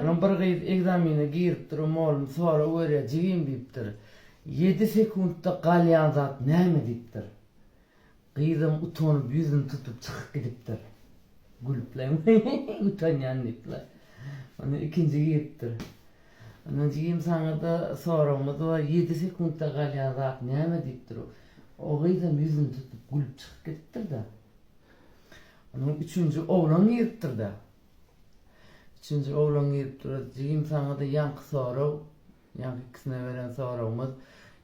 Onuň bir gyz ekzamene girip duran mugallym sorag berýär, jigim diýipdir, ýedi sekuntda galýan zat näme diýipdir. Gyzam utanyp ýüzüni tutup çykyp gidipdir. Gülüpler utanýan diýipler. Ondan ikinji giripdir. Ondan jigim saňada soragymyz bar, ýedi sekuntda galýan zat näme diýipdir. O gyzam ýüzüni tutup gülüp çykyp gidipdir-de. Ondan üçünji oglan giripdir-de. Üçünji oglan girip dur, Jigim saňa-da ýaňky sorag, ýaňky ikisine beren soragymyz,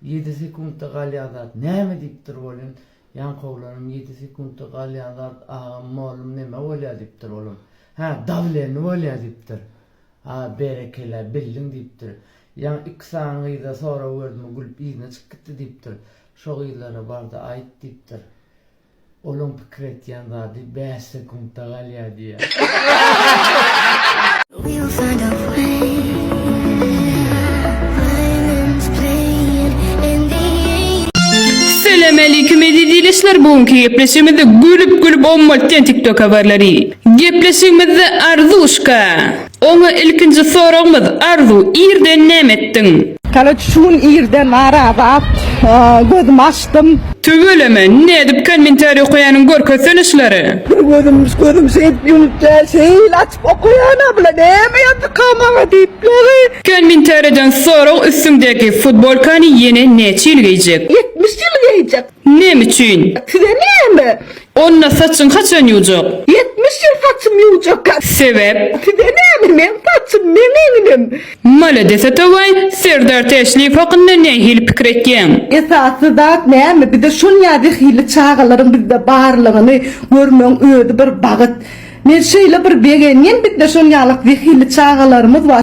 Ýedi sekuntda galýan zat näme diýip dur welin, ýaňky oglanam Ýedi sekuntda galýan zat, agam, mollum, neme bolýar diýip dur olam. Hä, dawleni bolýar diýip dur. A, berekella, bildiň diýip dur. Ýaňky iki sany gyza sorag berdim, o gülüp yzyna çykyp gitdi diýip dur. Şo gyzlara bar-da aýt diýip dur. Olaň pikir etýän zady bäş sekuntda galýar diýýär. Selamaleýkum eziz ildeşler bu günki gepleşigimizde gülüp gülüp ommaltýan tiktok habarlary. Gepleşigimizde Arzuşka. Oňa ilkinji soragymyz Arzu irden näme etdiň? Tala çün irden Arazy at gözüm açdym. Tüweleme nädip kommentariý okaýanyň görkezsen işleri. Bir gözüm gözüm şeýdip ýumup däl şeýle açyp okaýan a bula näme ýazyka maňa diýip ýaly. Kommentariýadan sorag üstüňdäki futbolkany ýene näçe ýyl geýjek. Ýetmiş ýyl geýjek. Näme üçin? Size näme? Onda saçyň haçan ýuwjak? Ýetmiş ýyl saçym ýuwjak. Sebäp? Size näme? Meň saçym, meň egnim. Malades atabaý, Serdar Täşliýew hakynda nähili pikir etýäň? Esasy zat näme? Bize şol ýazy hili çagalaryň bizde barlygyny görmegiň özi bir bagyt. Men şeýle bir begenýän bizde şol ýalak zehinli çagalarymyz bar.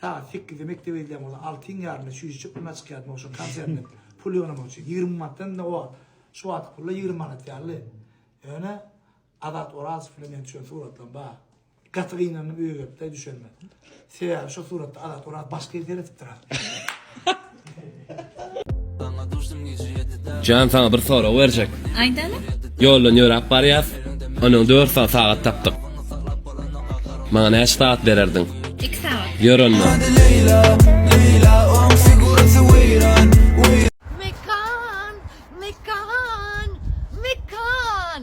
Sagat sekizde mekdebe gidýän bolsa, altyň ýarymda çüýji çyplymyna çykýardym, ogşa konsertine pul ýygnamak üçin. Ýigrimi manatdan-da o wagt, şu wagtky pullar ýigrimi manat ýaly. Ýöne Azat Orazow bilen meniň düşen suratlarym bar. Gaty gynandym öýe gelip-de düşenime. Sebäbi şo suratda Azat Orazow başga ýere seredipdir aslynda. Jan saňa bir sorag berjek. Aýdaly. Ýoldan ýöräp barýas. Onuň dört sagat sagat tapdyk. Maňa näçe sagat bererdiň? Iki sagat. Ýör onda. Mekan, mekan, mekan.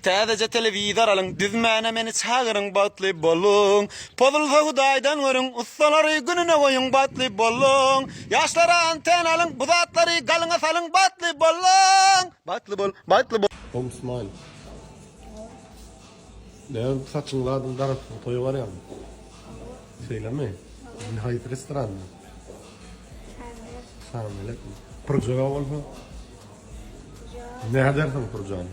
Täzeje telewizor alyň düzmäne meni çagyryň bagtly boluň Pozulsa hudaýdan görüň ussalary gününe goýuň bagtly boluň Ýaşlara antena alyň bu zatlary galyňa salyň bagtly boluň Bagtly bol bagtly bol. Home smile Näme saçyň zadyny darasdyň toýa barýaňmy? Şeýlemi? Indi haýsy restoranda? Çagamelek. Çagamelekmi? Purjaga bolsa? Nädersiň purjany?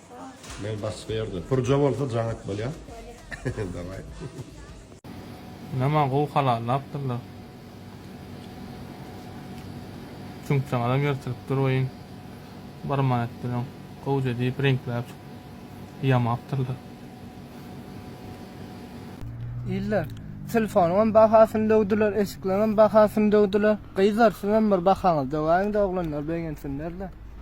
Men baş berdim. Purja bolsa jaňak bolýa. Daway. Ynama gowy halallapdyrlar. Çüňkjagazam ýyrtylpdyr wein. Bir manat bilen gowja diýip reňkläp ýamapdyrlar. Iller, telefonyňam bahasyny döwdüler, eşikleriňem bahasyny döwdüler. Gyzlar, siziňem bir bahaňyzy döwäýiň-de, oglanlar begensinler-de.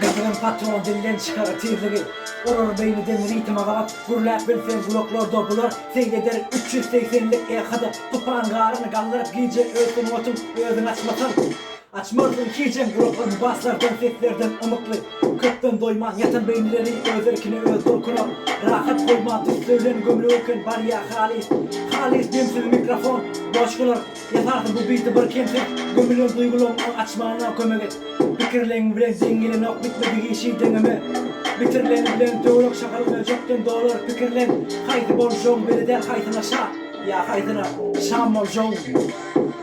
Beýlem patron dilden çykar tizligi Urar beýniden ritme gabat Gürläp bilseň gulaklarda bular Seýr eder üç ýüz segsenlik EH-da Tupan garyny galdyryp gije Öýtgün otuň özüň asmasaň Açmarsyň hijem gulaklaryny baslar jan seslerden ymykly Köpden doýman ýatan beýnileri öz erkine öz dolkuna Rahat goýma düz söýlen gömle öwken barýa halys Halys demsiz mikrofon boş galar Ýasarsy bu beýti bir kemsiz Gömülen duýgulaň oň açmana kömek et Pikirleň bilen deň gelenok bitmedi işi deňeme Bitirileni bilen töwerek şahalyk öýjükden dolar Pikirlen haýsy boljagyň belidäl haýsyna şa ýa haýsyna şam boljagyň.